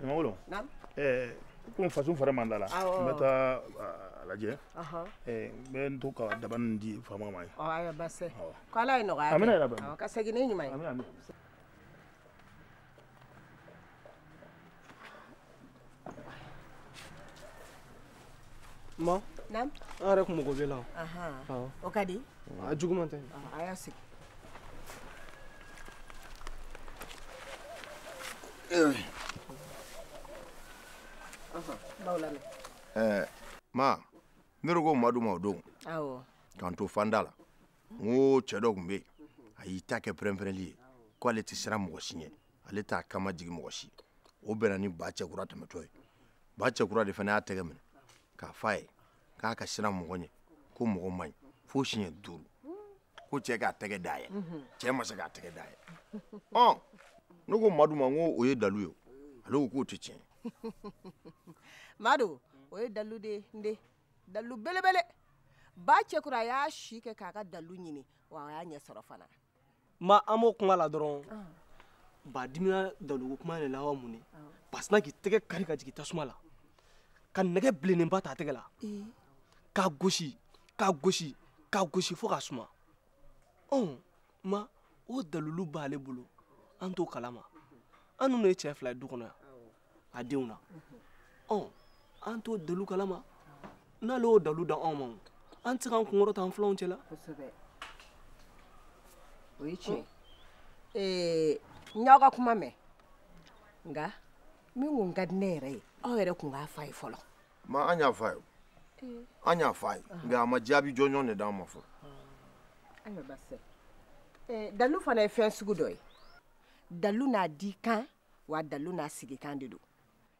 ɲamagolo naamu komi fasun fari man d'a la n bɛ taa a lajɛ eh, n bɛ n to ka daba nin di faama ma yen ayiwa basi tɛ k'ala ye nɔgɔya kɛ amiina yarabi ka segin ni ɲuman ye Ma naamu an yɛrɛ kun mago b'i la o ka di a juguman tɛ a y'a sigi ma ne yɛrɛ ko madu ma o don k'an to fanda la n ko cɛ dɔ kun bɛ yen a y'i ta kɛ pɛrɛnpɛrɛnli ye ko ale tɛ siran mɔgɔ si ɲɛ ale t'a kama jigin mɔgɔ si o bɛnna ni ba cɛkura tɛmɛtɔ ye ba cɛkura de fana y'a tɛgɛ minɛ k'a f'a ye k'a ka siran mɔgɔ ɲɛ ko mɔgɔ man ɲi fo siɲɛ duuru ko cɛ k'a tɛgɛ d'a ye cɛ ma se k'a tɛgɛ d'a ye ɔ ne ko madu ma n ko o ye dalu ye ale ko k'o tɛ tiɲɛ madu o ye dalu de ye n den dalu belebele ba cɛkura a y'a si kɛ k'a ka dalu ɲini wa a y'a ɲɛ sɔrɔ fana ma an b'o kuma la dɔrɔn ah. ba dimina daluko kuma de la wa mun ye ah. ba sinna k'i tɛgɛ kari ka jigin tasuma la ka nɛgɛ bilennenba ta a tɛgɛ la eh. k'a gosi k'a gosi k'a gosi fo k'a suma ɔn ma o dalulu b'ale bolo an t'o kalama an ninnu ye cɛ fila ye du kɔnɔ yan a denw na ɔ an t'o dalu kalama n'ale y'o dalu da anw ma an tɛ se k'an kun kɔrɔta an filanw cɛla o ye tiɲɛ ye n y'aw ka kuma mɛn nka min kun ka di ne yɛrɛ ye aw yɛrɛ kun k'a fa ye fɔlɔ ma an y'a fa ye an y'a fa ye nka a ma jaabi jɔnjɔn de d'an ma fɔlɔ ayiwa basi tɛ dalu fana ye fɛn sugu dɔ ye dalu n'a dikan wa dalu n'a sigikan de don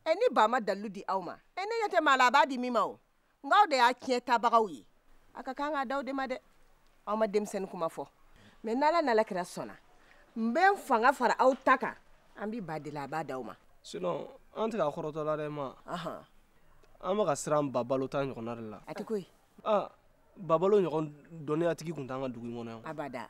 ɛ ni ba ma dalu di aw ma ɛ ne ɲɛ tɛ maa la a b'a di min ma o nka aw de y'a tiɲɛtabagaw ye a ka kan k'a da aw de ma dɛ aw ma denmisɛn kuma fɔ mɛ n'ala n'ala kira sɔnna n bɛ n fanga fara aw ta kan an bɛ ba deli a b'a da aw ma sinon an tɛ ka kɔrɔtɔ la dɛ ma an bɛ ka siran babalo ta ɲɔgɔnna de la hatɛ koyi babalo ɲɔgɔn dɔnniyatigi kun t'an ka dugu in kɔnɔ yan abada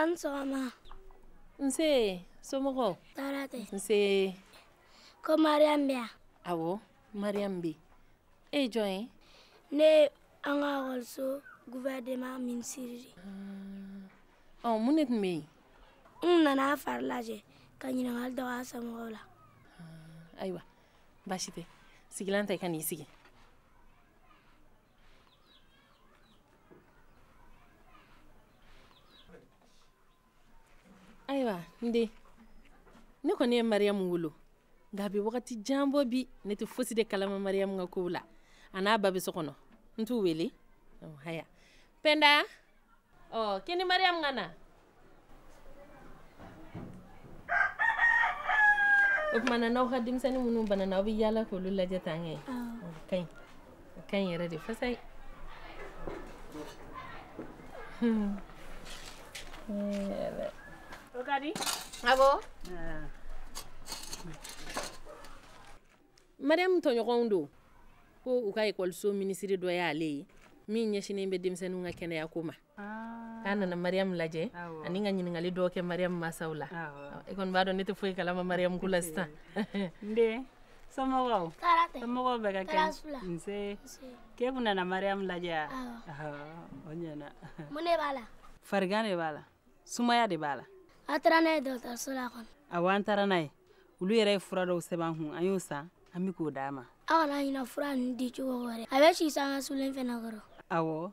An sɔgɔma nse somɔgɔw tɔɔrɔ tɛ nse ko mariam bɛ yan awɔ mariyamu bɛ e ye jɔn ye ne ye an ka ekɔliso guvɛrɛnema minisiri de ah. ɔ mun de tun bɛ yen n nana a fari lajɛ ka ɲininkali dɔ k'a somɔgɔw la ah, ayiwa baasi tɛ sigilan ta i ka n'i sigi ayiwa n den ne kɔni ye mariyamu wolo nka a bɛ wagati jan bɔ bi ne tɛ fosi de kalama mariyamu ka kow la a n'a ba bɛ so kɔnɔ n t'u wele haya pɛnda ɔ k'i ni mariyamu ka na o tuma na n'aw ka denmisɛnnin minnu banana aw bɛ yaala k'olu lajɛ tan kɛ o ka ɲi o ka ɲi yɛrɛ de fasa ye o ka di abo mariyamu tɔɲɔgɔnw don ko u ka ekɔliso minisiri dɔ y'ale ye min ɲɛsinnen bɛ denmisɛnninw ka kɛnɛyako ma Ah. k'a nana mariyamu lajɛ ani ka ɲininkali dɔw kɛ mariyamu masaw la e kɔni b'a dɔn ne tɛ foyi kalama mariyamu ko la sisan n den somɔgɔw somɔgɔw bɛɛ ka kɛnɛ nse k'e tun nana mariyamu lajɛ a o ɲɛna mun de b'a la farigan de b'a la sumaya de b'a la a taara n'a ye dɔgɔtɔrɔso la kɔni awɔ an taara n'a ye olu yɛrɛ ye fura dɔw sɛbɛn an kun an y'o san an bɛ k'o d'a ma aw kana ɲina fura ninnu di cogo wɛrɛ a bɛ si sange sulen fana kɔrɔ awɔ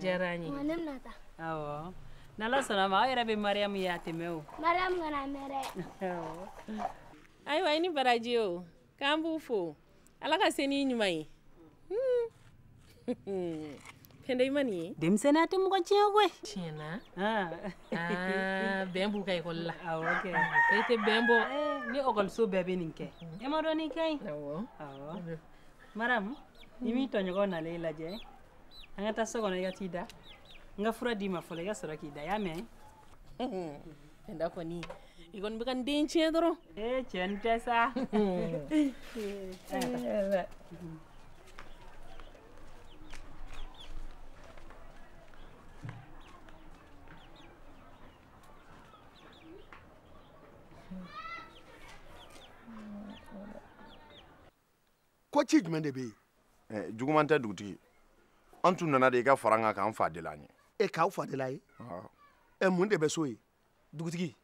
diyara n ye ne bɛna taa awɔ n'ala sɔnna a ma aw yɛrɛ bɛ mariyamu ye a tɛ mɛɛn o mariyamu kana mɛɛn dɛ ayiwa i ni baraji o k'an b'u fo ala ka se n'i ɲuman ye pɛnda i ma nin ye denmisɛnninya tɛ mɔgɔ tiɲɛ koyi tiɲɛ na bɛn b'u ka ekɔli la awɔ kɛ e tɛ bɛn bɔ ni ekɔliso bɛɛ bɛ nin kɛ e m'a dɔn nin ka ɲi awɔ mariyamu i m'i tɔɲɔgɔn nalen i lajɛ an ka taa so kɔnɔ i ka t'i da n ka fura d'i ma fɔlɔ i ka sɔrɔ k'i da y'a mɛn pɛnda kɔni i kɔni bɛ ka n den tiɲɛ dɔrɔn ee cɛ n tɛ sa ko ci jumɛn de bɛ yen. ɛ eh, juguman tɛ dugutigi an tun nana de i ka fara an kan k'an fa deli an ye. e k'aw fa deli aw ye. ɛ eh, mun de bɛ so ye. dugutigi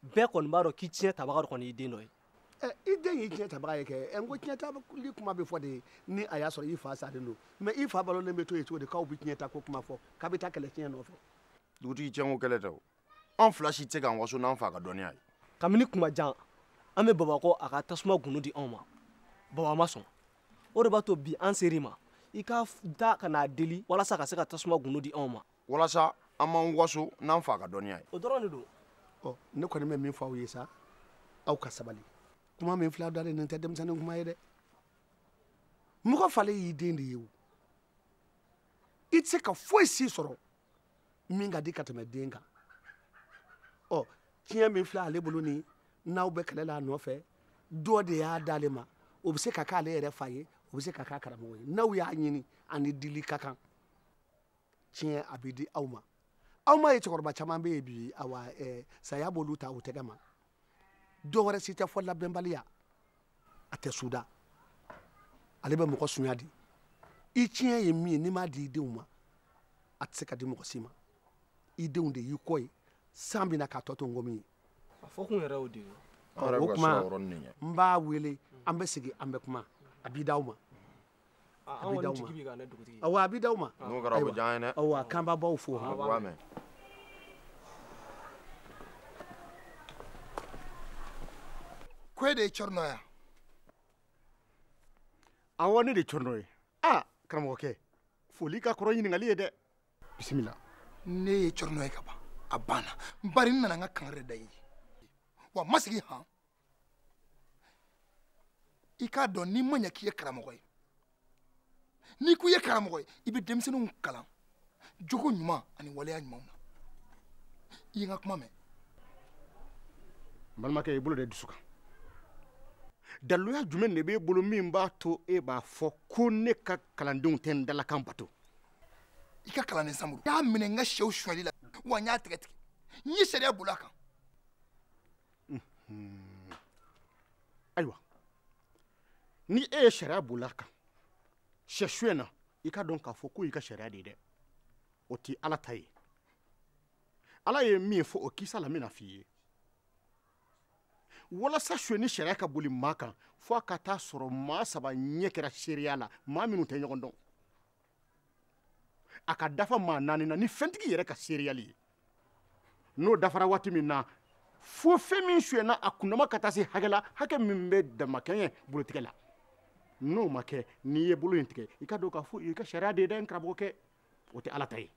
bɛɛ kɔni b'a dɔn k'i tiɲɛ tabaga dɔ kɔni y'i den dɔ ye. ɛ eh, i den y'i tiɲɛ tabaga ye kɛ ɛ n ko tiɲɛ tali kuma bɛ fɔ de ni a y'a sɔrɔ i fa salen don mɛ i fa balolen bɛ to yen cogo di k'aw bɛ tiɲɛ ta ko kuma fɔ k'aw bɛ taa kɛlɛ tiɲɛ nɔfɛ. dugutigi tiɲɛko kɛlɛ tɛ o. an fila si tɛ se k'an waso n'an fa ka dɔnniya ye kabini kuma jan an bɛ baba kɔ a ka tasuma gundo di anw ma baba ma sɔn o de b'a to bi an ser'i ma i ka taa ka n'a deli walasa ka se ka tasuma gundo di anw ma walasa an b'an waso n'an fa ka dɔnniya ye o dɔrɔn de don ɔ ne kɔni bɛ min fɔ aw ye sa aw ka sabali kuma min filɛ dalen nin tɛ denmisɛnnin kuma ye dɛ mɔgɔ falen y'i den de ye o i tɛ se ka foyi si sɔrɔ min ka di ka tɛmɛ den kan ɔ tiɲɛ min filɛ ale bolo nin n'aw bɛ kɛlɛ la a nɔfɛ dɔ de y'a d'ale ma o bɛ se ka k'ale yɛrɛ fa ye o bɛ se ka k'a karamɔgɔ ye n'aw y'a ɲini ani dili ka kan tiɲɛ a bɛ di aw ma aw m'a ye cɛkɔrɔba caman bɛ yen bi awa ɛɛ saya b'olu ta u tɛgɛ ma dɔwɛrɛ si tɛ fo labɛnbaliya a tɛ suda ale bɛ mɔgɔ sunya de i tiɲɛ ye min ye n'i m'a di i denw ma a tɛ se ka di mɔgɔ si ma i denw de y'i kɔ ye san bɛ na k'a tɔ to nkɔmi ye a fɔ kun yɛrɛ y'o de ye o kuma n b'a wele an bɛ sigi an bɛ kuma a bɛ d'aw ma an kɔni jigi b'i kan dɛ dugutigi awɔ a bɛ d'aw ma n'o kɛra o bɛ diya an ye dɛ awɔ k'an b'a baw fo han awɔ u b'a mɛn ko e de ye cɔrinɔ ye awɔ ne de ye cɔrinɔ ye aa karamɔgɔkɛ foli ka kɔrɔ ɲininkali ye dɛ bisimila ne ye cɔrinɔ ye ka ban a banna bari n nana n ka kangari de da i ye wa n ma sigi han i k'a dɔn n'i ma ɲinɛ k'i ye karamɔgɔ ye n'i ko i ye karamɔgɔ ye i bɛ denmisɛnninw kalan jogo ɲuman ani waleya ɲumanw na i ye n ka kuma mɛn n balimakɛ i bolo d'i dusu kan daluya jumɛn de b'e bolo min b'a to e b'a fɔ ko ne ka kalandenw tɛ n dalakan bato i ka kalanden samuru y'a minɛ n ka sɛw suyɛli la wa n y'a tɛgɛ tigɛ n ye sariya boli a kan ayiwa ni e ye sariya boli a kan sɛ suyɛn na i k'a dɔn k'a fɔ k'o y'i ka sariya de ye dɛ o tɛ ala ta ye ala ye min fɔ o kisa la n bɛn'a f'i ye walasa suyɛnni sariya ka boli maa kan fo a ka taa sɔrɔ maa saba ɲɛ kɛra seereya la maa minnu tɛ ɲɔgɔn dɔn a ka dafa maa naani na ni fɛntigi yɛrɛ ka seereyali ye n'o dafara waati min na fo fɛn min suyɛna a kundama ka taa se hakɛ la hakɛ min bɛ damakɛɲɛ bolotigɛ la n'o ma kɛ n'i ye bolo in tigɛ i k'a dɔn k'a fɔ i ka sariya de ye dɛ n karamɔgɔkɛ o tɛ ala ta ye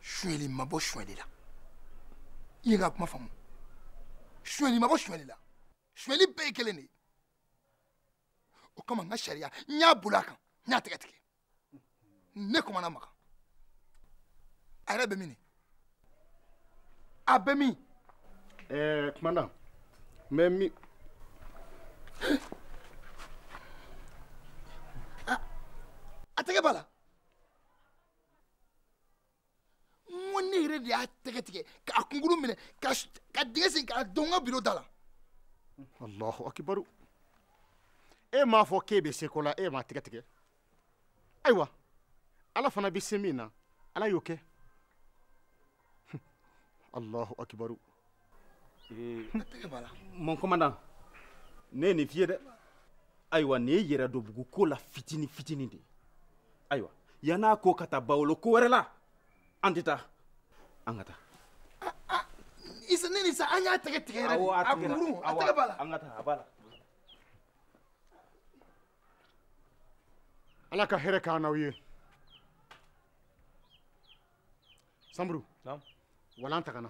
suyɛli ma bɔ suyɛli la i ye n ka kuma faamu suyɛli ma bɔ suyɛli la suyɛli bɛɛ ye kelen de ye o kama n ka sariya n y'a boli a kan n y'a tɛgɛ tigɛ ne commandant makan a yɛrɛ bɛ min a bɛ min ɛɛ eh, commandant bɛ min a tɛgɛ b'a la n ko ne yɛrɛ de y'a tɛgɛ tigɛ k'a kunkurun minɛ ka dingɛ sen k'a don n ka biro da la. alahu akibaru e m'a fɔ k'e bɛ se ko la e m'a tɛgɛ tigɛ ayiwa ala fana bɛ se min na ala y'o kɛ alahu akibaru. mon commandant ne ye nin f'i ye dɛ ayiwa nin ye yɛrɛdɔnbugu ko la fitini fitini de ye ayiwa yann'a ko ka taa bawolo ko wɛrɛ la an tɛ taa an ka taa isa ne ni sa an y'a tɛgɛ tigɛ yɛrɛ de a kunkurun a tɛgɛ b'a la an ka taa a b'a la ala ka hɛrɛ k'an n'aw ye sanburu walan tagana